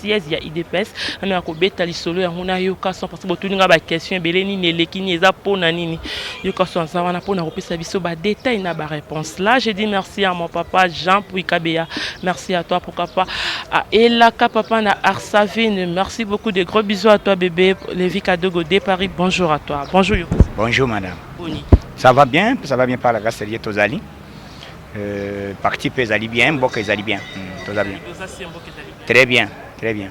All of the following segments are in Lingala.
siège ya udps nanu ya kobeta lisolo yango nayoka son parce botuni nga baquestion ebele nini eleki nini eza mpo na nini yoka son aza wana mpo na kopesa biso badetail na baréponse là je dis merci à mon papa jean pui kabeya merci à toi pourquoi pas à elaka papa na arsavine merci beaucoup de gros bisous à toi bébé levi kadogo de paris bonjour à toi bonjour yoka bonjour madame Boni. ça va bien ça va bien par la grâce de dieu tozali Euh, parti mpe ezali bien mboka ezali bien hmm, toza bien très bien très bien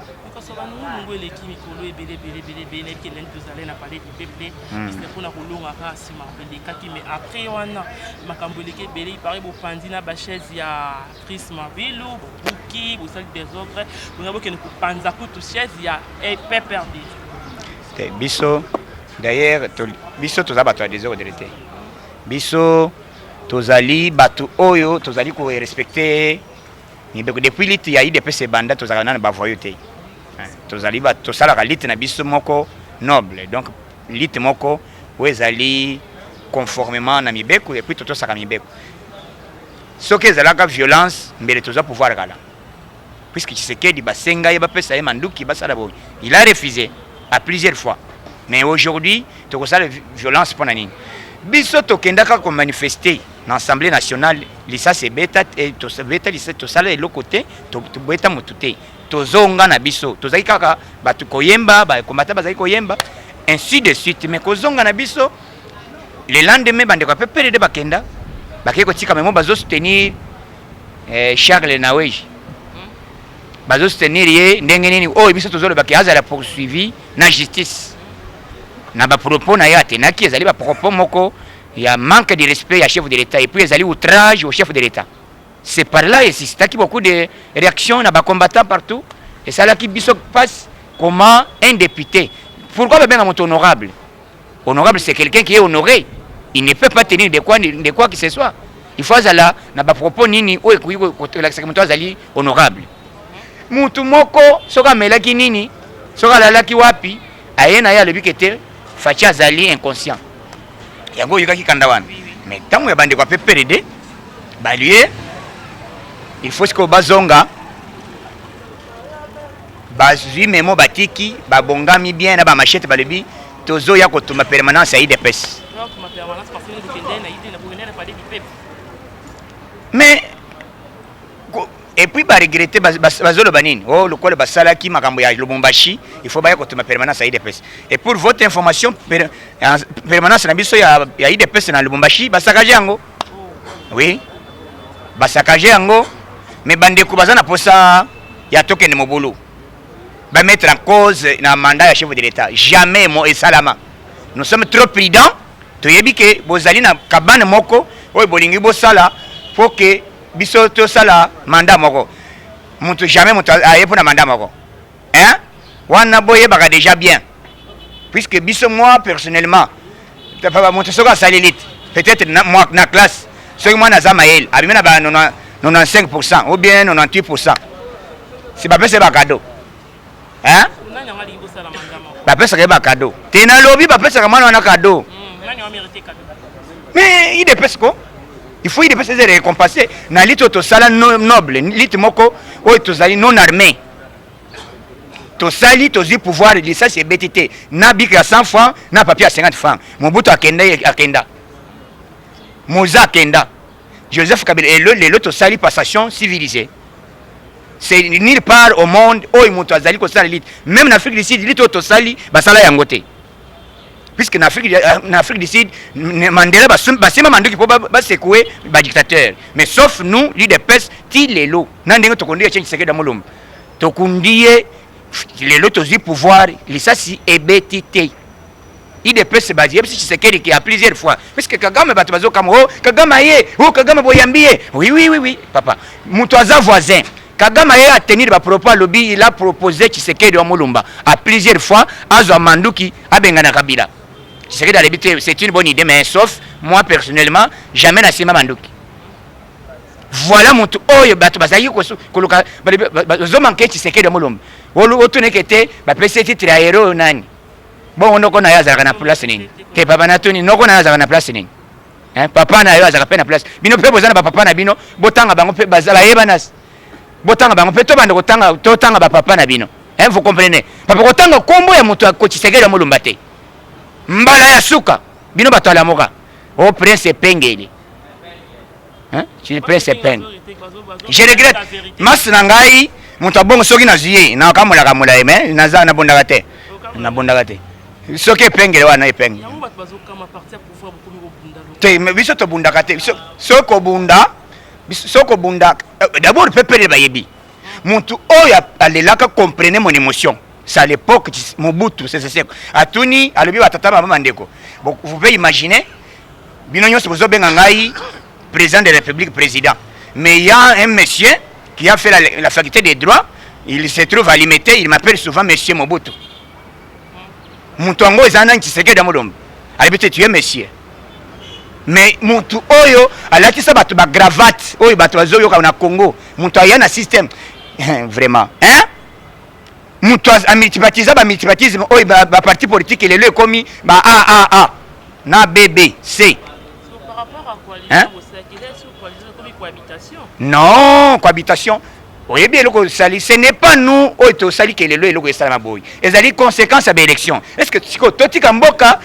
mpona kolongaka nsima elekaki mais après wana makambo eleki ebele ipare bopanzi na bachaise ya cris mabelo bobuki bosali desordre bonga bokende kopanza kutu chaise ya eh, pprd te biso d'ailleurs biso toza bato ya desordre te biso Tozali batu oyo tozali ko respecter mibeko depuis lutte ya UDPS ebanda tozalaka nanu ba voyous te. Eh, tozali ba tosalaka lutte na biso moko noble. Donc lutte moko oyo ezali conformément na mibeko et puis totosaka mibeko. Soki ezalaka violence mbele toza pouvoir kala. puisque Tshisekedi basenga ye bapesa ye manduki basala boye il a refusé à plusieurs fois mais aujourd'hui tokosala violence mpo na nini biso tokendaka komanifeste na assemblée nationale lisasi ebeta eh, tobeta lisasi tosala eloko te tobeta motu te tozonga na biso tozali kaka bato koyemba bakombata bazali koyemba ainsi de suite mais kozonga na biso Le lendemain bandeko ya PPRD bakenda bakei kotika memo bazo soutenir eh, Charles Naweji hmm. bazo soutenir ye ndenge nini oyo oh, biso tozolobaki azala poursuivi na justice na bapropos na ye atenaki ezali bapropos moko ya manque de respect ya chef de l'État et puis ezali outrage au chef de l'État c'est par là esisitaki beaucoup de réactions na bacombattants partout esalaki biso passe comment un député pourquoi babenga moto honorable Honorable c'est quelqu'un qui est honoré. Il ne peut pas tenir de quoi, de quoi que ce soit. Il faut azala na ba propos nini oyo ekoki kolakisa moto azali honorable. Moto moko soki amelaki nini, soki alalaki wapi, aye na ye alobi ke te Fatshi azali inconscient. Yango oyokaki kanda wana. Mais ntango ya bandeko ya PPRD balie il faut sikoyo bazonga Bazui memo batiki babongami bien na ba machette balobi tozo ya kotumba permanence ya IDPS. Mais et puis ba regretter bazoloba nini oh lokola basalaki makambo ya Lubumbashi il faut baya kotuma permanence ya IDPS et pour votre information permanence na biso ya, ya IDPS na Lubumbashi basakaje yango oui basakaje yango mais bandeko baza na posa ya tokende mobulu bamettre en cause na mandat ya chef de l'état jamais mo esalama nous sommes trop prudents toyebi ke bozali na kabane moko oyo bolingi bosala po ke biso tosala mandat moko moto jamais moto aye mpo na mandat moko hein wana bo yebaka dejà bien puisque biso moi personnellement papa moto soki asali lit peut-être na, moi, na classe soki mwana aza mayele abimi na ba 95% ou bien 98% si bapesa ye bakado hein bapesaka ye bakado te nalobi bapesaka mwana wana kado mais idepese ko il faut idepese eza récompense na lite oyo tosala noble lite moko oyo tozali non armée tosali tozwi pouvoir lisasi ebeti te na bike ya 100 franc na papier ya 50 franc mobutu akenda akenda moza akenda joseph kabila lelo lelo tosali passation civilisée c'est nulle part au monde oyo moto azali kosala lite même na afrique du sud lite oyo tosali basala yango te puisque na Afrique, euh, na Afrique du Sud Mandela basema manduki mpo basekue badictateur mais sauf nous l'udps ti lelo na ndenge tokondi etienne tshisekedi ya molombo tokundi ye lelo tozwi pouvoir lisasi ebeti te idps bazi yebisi tshisekedi ke a plusieurs fois puisque kagame bato bazokama o oh, kagame aye o oh, kagame boyambi ye oui oui oui oui papa moto aza voisin Kagame aye a tenir ba propos alobi il a propose Tshisekedi wa Mulumba a plusieurs fois azwa manduki abengana Kabila. Tshisekedi alebi te c'est une bonne idée mais sauf moi personnellement jamais na sima manduki. Voilà mutu oyo bato bazalaki koluka bazo manke Tshisekedi wa Mulumba. Otuneke te bapesi titre ya hero oyo nani? Bongo noko na ye azalaka na place nini? Te papa natuni noko na ye azalaka na place nini? Hein, papa na yo azalaka pe na place. Bino pe boza na ba papa na bino, botanga bango pe baza bayebanas. Botanga bango pe to banda kotanga to tanga ba papa na bino. Hein, vous comprenez? Papa kotanga kombo ya moto ya kochisekela molumba te. Mbala ya suka bino bato ya lamoka. Oh prince epengeli. Hein? Tu prince epengeli. Je regrette. Mas na ngai moto abongo soki na zuye na kamola kamola ye mais naza na bondaka te. Na bondaka te. Soki epengeli wana epengeli. Yango bato bazokama partir te mais biso tobundaka te soki kobunda soki kobunda euh, d'abord mpe pele bayebi motu oyo alelaka comprene mon émotion c'est à l'époque mobutu seseseko atuni alobi batata mama bandeko vous pouvez imaginer bino nyonso bozobenga ngai président de la république président mais il y a un monsieur qui a fait la, la faculté des droits il se trouve à limete il m'appelle souvent monsieur mobutu moto yango eza nani tshisekedi ya molombe ayebi te tuye monsieur mais motu oyo alatisa bato bagravate oyo bato bazoyoka na congo moto aya na systeme vraiment hein? moto amultipatisa bamultipatisme oyo baparti politike lelo ekomi ba aaa na bbc hein? non cohabitation oyebi eloko osali ce n'est pas nous oyo tosali ke lelo eloko esalama boye ezali conséquence ya baélection est ce que sikoyo totika mboka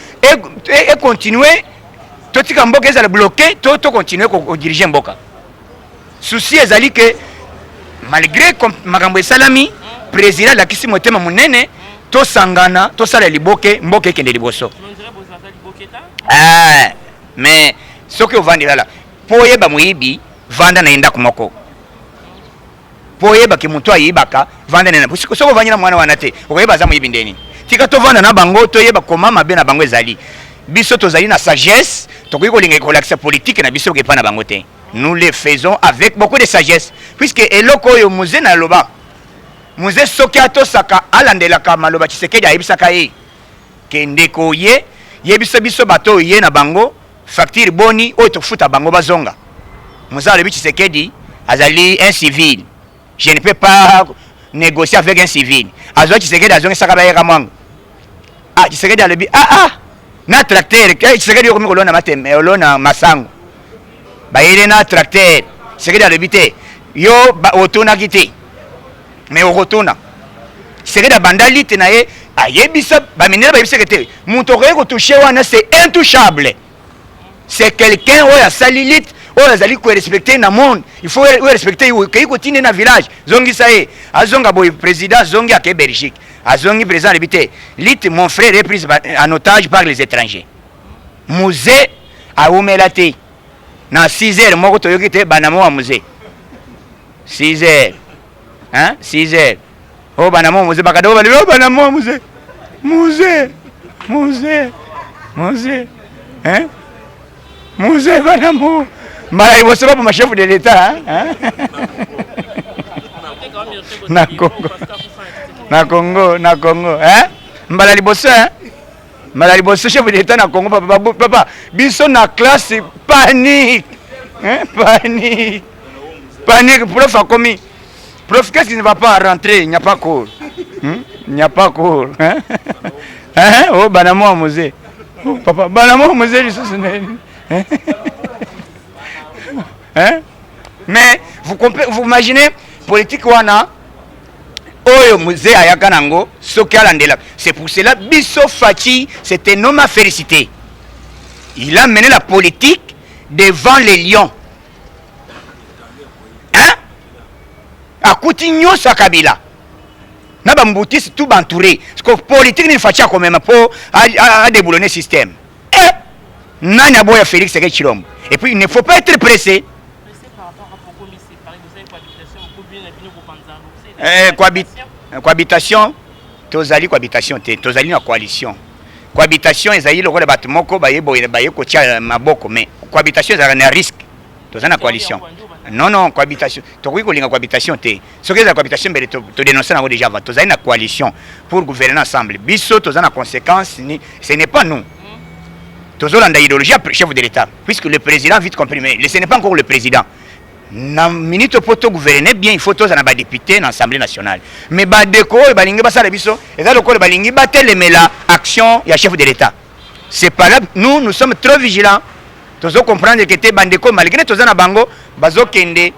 econtinue e, e totika mboka ezala bloqué to tocontinue kodirige mboka souci ezali ke malgré makambo esalami président alakisi motema monene tosangana tosala liboke mboka ekende liboso eh, mais soki ovandi lala Po oyeba moyibi vanda na ye ndaku moko po oyeba ke mutu ayibaka vanda na ye ndaku soki ovandi na muana wana te okoyeba aza moyibi nde nini tika tovanda na bango toyeba koma mabe na bango ezali biso tozali na sagesse tokoki kolinga kolakisa politique na biso epa na bango te nous les faisons avec beaucoup de sagesse puisque eloko oyo muze na loba muze soki atosaka alandelaka maloba tshisekedi ayebisaka ye ke ndeko ye yebisa biso bato oyo ye na bango Facture boni oyo tofuta bango bazonga. Muza alobi Tshisekedi azali un civil. Je ne peux pas négocier avec un civil. Azwa Tshisekedi azongisaka ba yeka mwango. Ah Tshisekedi alobi ah ah na tracteur ke Tshisekedi yokomi kolona mateme olona masango. Bayele na tracteur. Tshisekedi alobi te yo otunaki te. mais okotuna sekedi abanda lite na ye ayebisa baminere bayebiseke te moto okoki kotouche wana c'est intouchable c'est quelqu'un oyo asali lite oyo azali korespecte na monde il faut orespecte ye okei kotinde na village zongisa ye azonga boye président azongi ake belgique azongi président alebi te lite mon frère est prise en otage par les étrangers musée awumela te na 6 heures moko toyoki te banamo wa musée 6 heures hein 6 heures oh bana mo muze bakada oh bana oh bana mo muze muze muze muze hein muze bana mo mbala liboso baboma chef de l'etat hein na congo na congo na congo hein mbala liboso hein Mala liboso chef d'etat na Congo papa babu, papa biso na classe panique hein panique panique prof akomi prof qu'est-ce qui ne va pas rentrer il n'y a pas cours hmm? il n'y a pas cours hein hein oh bana moi musée oh, papa bana moi musée lisusu hein hein mais vous vous imaginez politique wana oyo mzee ayaka nango soki alandela c'est pour cela biso faci c'est un homme à féliciter il a mené la politique devant les lions hein akuti nyonso ya kabila na bambutisi tout bantouré siko politike nini faci akomema mpo adeboulone système Eh! Nani aboya Felix Tshisekedi Tshilombo? Et puis il ne faut pas être pressé. Eh, eh, cohabitation tozali cohabitation te tozali na coalition cohabitation ezali lokola bato moko baye boye baye kotia maboko mais cohabitation ezalaka na risque toza na coalition non non cohabitation tokoki kolinga cohabitation te soki ezala cohabitation mbele todenonce nango déjà avant tozali na coalition pour gouverner ensemble biso toza na conséquence ni ce n'est pas nous tozolanda idéologie ya chef de l'état puisque le président vite compris mais ce n'est pas encore le président na minute mpo togouverne bien il faut tozala na badepute na assemblée nationale mais badeko oyo balingi basala biso eza lokola balingi batelemela action ya chef de l'état c'est pas là nous nous sommes trop vigilants tozo comprendre que te bandeko malgré toza na bango bazokende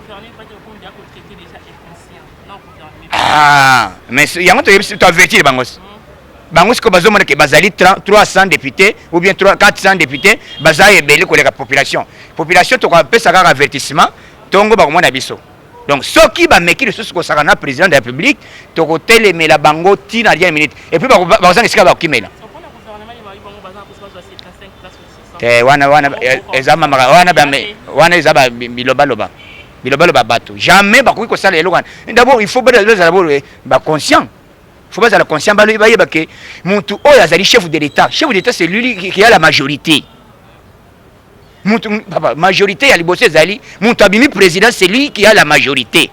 ah, mais yango toyebisi toavertir bango bango sikoyo bazomona ke bazali 300 député ou bien 400 député baza ebele koleka population population tokapesa kaka avertissement ntongo bakomona biso donc soki bameki lisusu kosaka na président de la république tokotelemela bango ti na dernière minute et puis bakozanga esika bakokimela te wana wana eh, eza mamaka wana wana eza bilobaloba bilobaloba bato jamais bakoki kosala eloko wana d'abord il faut bazala bolo eh, baconscient faut bazala conscient bayeba ke motu oyo azali chef de l'état chef de l'état c'est lui qui a la majorité papa majorité ya liboso ezali mutu abimi président c'est lui qui a la majorité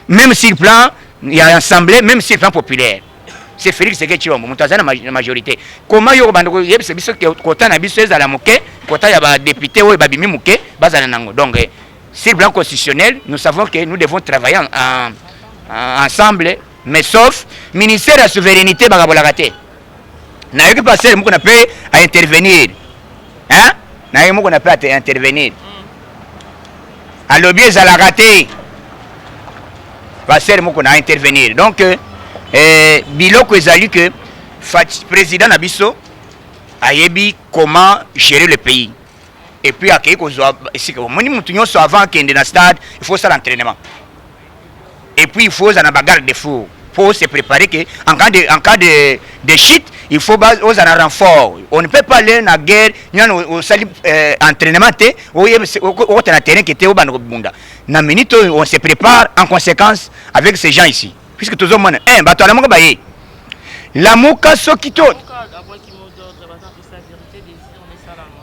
même sur plan ya assemblée même sur plan populaire c'est Félix Tshisekedi Tshilombo mutu aza na majorité koma yo obanda koyebisa biso kota na biso ezala moke kota ya ba député oyo babimi moke bazala nango donc eh, sur plan constitutionnel nous savons que nous devons travailler en, en, en, ensemble mais sauf ministère ya souveraineté bakabolaka te nayoki pasteur moko na pe a intervenir hein naye moko na pe a intervenir alobi ezalaka te pasteur moko na intervenir donc euh, eh, biloko ezali que président na biso ayebi comment gérer le pays et puis akei kozwa esika omoni motu nyonso avant akende na stade il faut osala entraînement Et puis il faut ozala na ba garde fou pour se préparer que en cas de en cas de de chute il faut ba ozala na renfort on ne peut pas aller na guerre nyana osali euh, entraînement te oye okota na terrain que te obanda kobunda na minute oyo on se prépare en conséquence avec ces gens ici puisque tozomona eh bato alamuka baye lamuka soki to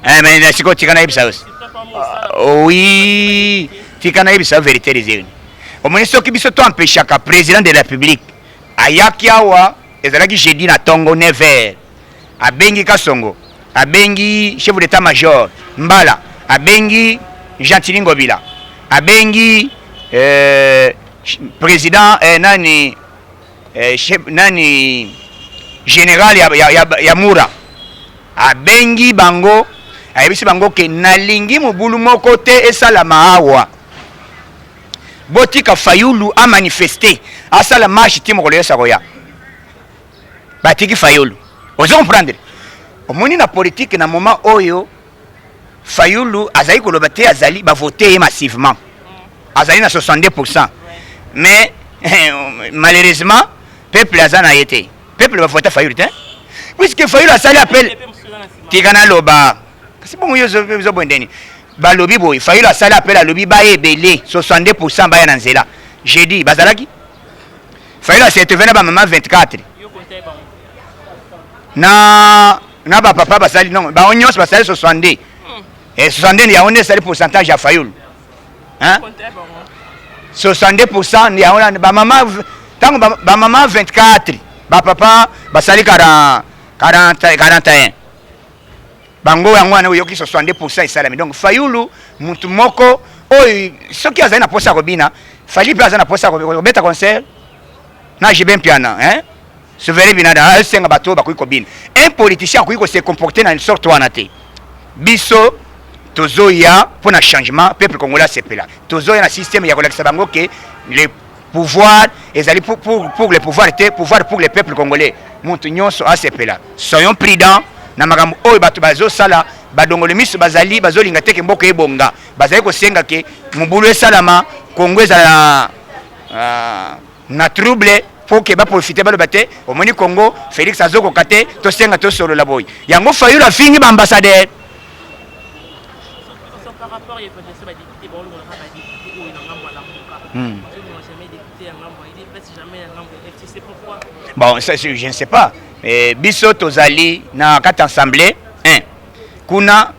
Eh, mais na sikoyo tika nayebisa yo ah, oui tika nayebisa yo verité des urnes omoni soki biso to empêchaka président de la république ayaki awa ezalaki jeudi na tongo 9 heures abengi kasongo abengi chef d'état major mbala abengi gentini ngobila abengi euh, président eh, nani eh, chef, nani general ya, ya, ya, ya mura abengi bango ayebisi bango ke nalingi mobulu moko te esalama awa botika fayulu amanifeste asala marche ti mokolo yesa koya batiki fayulu ozo comprendre omoni na politike na moma oyo Fayulu azali koloba te azali ba voter ye massivement. Azali na 62%. Mais malheureusement peuple aza na ye te. Peuple ba voter Fayulu te. Puisque Fayulu asali appel tika na loba. Kasi bongo yo zo zo bondeni. Balobi boye Fayulu asali appel alobi ba ebele 62% baya na nzela. Jeudi bazalaki Fayulu a se retrouver na ba maman 24 na na ba papa basali non ba onyos basali 62 hmm. et 62 ya onde sali pourcentage ya fayulu hein 62% ya ona ba mama tango ba mama 24 ba papa basali 40 40 41 bango yango wana oyoki 62% esalami donc fayulu mutu moko oyo soki azali na posa ya kobina fali mpe aza na posa ya kobeta concert na jibe mpiana hein Souverain Binada a senga bato bakoki kobina. Un politicien akoki ko se comporter na une sorte wana te. Biso tozoya mpo na changement peuple congolais asepela. Tozoya na système ya kolakisa bango ke le pouvoir ezali pour, pour, pour le pouvoir te pouvoir pour le peuple congolais. Moto nyonso asepela. Soyons prudents na makambo oyo bato bazosala badongoli miso bazali bazolinga te ke mboka ebonga bazali kosenga ke mobulu esalama kongo ezala uh, na trouble mpo ke baprofite baloba te omoni congo félix azokoka te tosenga tosolola boye yango fayulu afingi baambassadeur Hmm. Bon, ça, je ne sais pas. Mais biso tozali na kati assemblée, hein. Kuna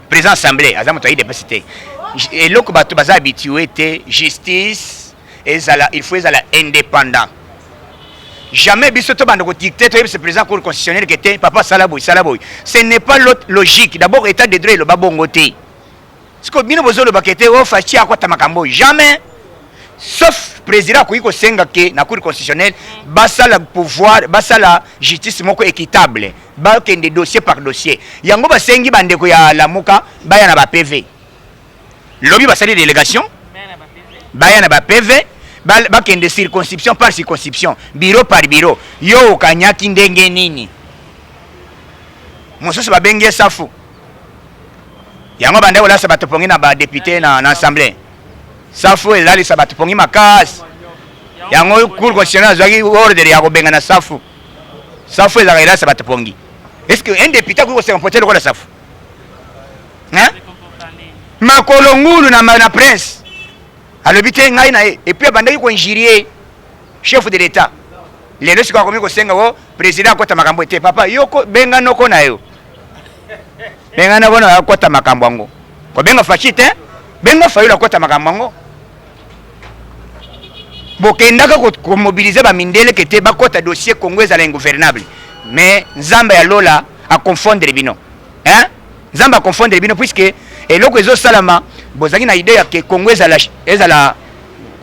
président assemblée, aza moto ayi depasite. Eloko bato baza habitué te justice ezala il faut ezala indépendant jamais biso tobanda kodicte toyebisa président cour constitutionnel ke te papa sala boye sala boye ce n'est pas l'autre logique d'abord état de droit eloba bongo te sikoyo bino bozoloba ke te o oh, faci akwata makambo oyo jamais sauf président akoki kosenga ke na cour constitutionnel basala pouvoir basala justice moko équitable bakende dossier par dossier yango basengi bandeko ya lamuka baya na bapv lobi basali delegation baya na ba PV bakende circonscription par circonscription bureau par bureau yo okanyaki ndenge nini mosusu babengi ye safu yango banda kolasa bato pongi na badepute na, na assemblée safu elalisa bato pongi makasi yango cour constitutionnel azwaki ordre ya kobenga na safu safu ezalaka elalisa bato pongi est ce que un depute akoki kosenga mpote lokola safu makolo ngulu na, na prince alobi te ngai na ye epuis abandaki koinjurie chef de l'etat lelo sikoyo akomi kosenga o oh, président akota makambo ete papa yo benga noko na yo benga noko na yo akota makambo yango kobenga faci te benga fayulu akota makambo yango Bokendaka ko mobiliser ba mindele que te bakota dossier Congo ezala ingouvernable mais Nzambe ya Lola a confondre bino hein? Nzambe a confondre bino puisque eloko ezo salama bozaki na idée ya que Congo ezala ezala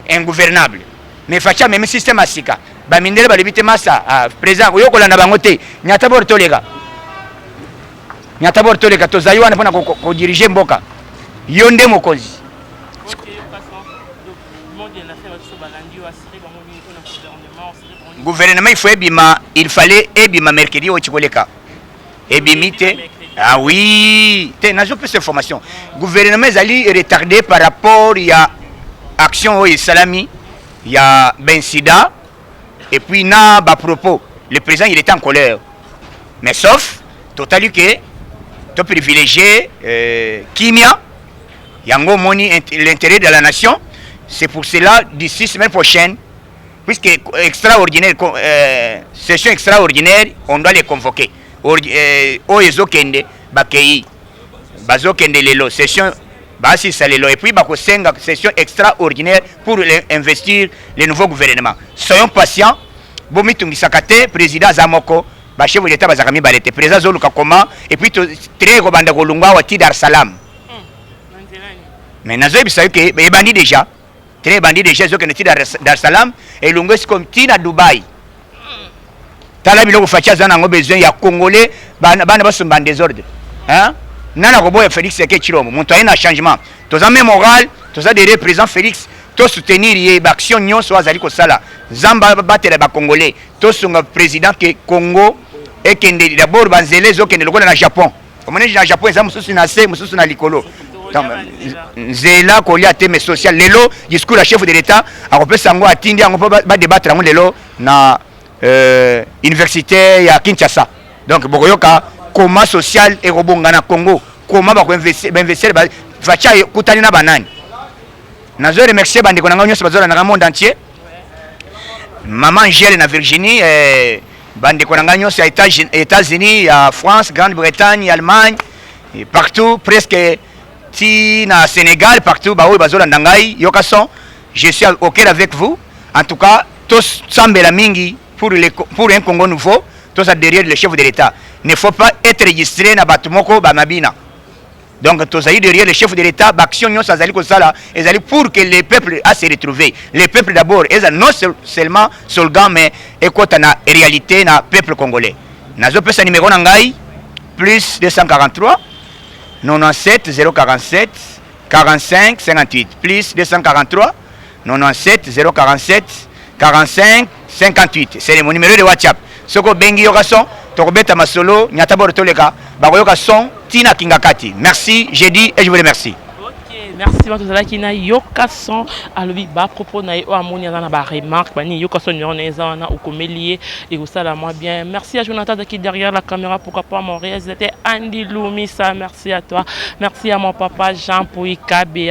ingouvernable mais facha même système ya sika ba mindele balobi te masa ah, président oyo kolanda bango te nyata bor toleka nyata bor toleka tozali wana mpona ko, ko, ko diriger mboka yo nde mokonzi gouvernement il faut ebima il fallait ebima mercredi oyo tikoleka ebimi te ah oui te nazo pesa information gouvernement ezali retardé par rapport ya action oyo esalami ya bensida et puis na bapropos le président il était en colère mais sauf totali ke toprivilégie euh, kimia Yango omoni l'intérêt de la nation, c'est pour cela d'ici semaine prochaine, puisque extraordinaire, euh, session extraordinaire, on doit les convoquer. Euh, oyo ezokende bakei bazokende lelo session baasisa lelo et puis bakosenga session extraordinaire pour investir le nouveau gouvernement soyons patient bomitungisaka te président aza moko bachef de l'état bazalaka mibale te président azoluka koma et puis très kobanda kolungwa awa ti dar salam mais nazoyebisa yo ke ebandi déjà tele ebandi déjà ezokende ti dar es salaam elongo esikomi ti na dubai tala biloko faci aza nango besoin ya congolais bana basomba en desordre hein? nani akoboya félix eke cilombo moto aye na changement toza me moral toza derrière président félix tosoutenir ye baaction nyonso azali kosala nzambe abatela bacongolais tosunga président ke congo ekende dabord banzela ezokende lokola na japon omoni na japon eza mosusu na se mosusu na likolo nzela kolia te mais social lelo discours ya chef de l'état akopesa yango atindi yango mpo badebatre yango lelo na euh, université ya kinshasa donc bokoyoka koma social ekobonga na congo koma bakoinvestir vaca ekutani na banani nazo remercier bandeko na ngai nyonso bazolandaka monde entier maman angele na virginie eh, Bandeko na ngai nyonso ya Etats-Unis, ya France, Grande-Bretagne, Allemagne, partout presque ti na Sénégal partout baoyo bazolanda ngai yoka son je suis au cœur avec vous en tout cas tosambela mingi pour, le, pour un Congo nouveau toza derrière le chef de l'État ne faut pas être registré na bato moko bamabina Donc tozali derrière le chef de l'État, baction nyonso azali kosala ezali pour que les peuples a se retrouver. Les peuples d'abord eza non seulement slogan mais ekota na réalité na peuple congolais. Nazopesa numéro na ngai plus 243 97 047 45 58 plus 243 97 047 45 58 c'est mon numéro de WhatsApp soki obengi yoka son tokobeta masolo nyata boro toleka bakoyoka son tina kingakati merci j'ai dit et je vous remercie merci wana tozalaki na yoka son alobi bapropos na ye oyo amoni aza na baremarque banini yoka son numero na ye eza wana okomeli ye ekosala mwa bien merci ya jonathan azalaki derrière la caméra pourquoi pas mon réalisateur andi lumisa merci à toi merci à mon papa jean poikabe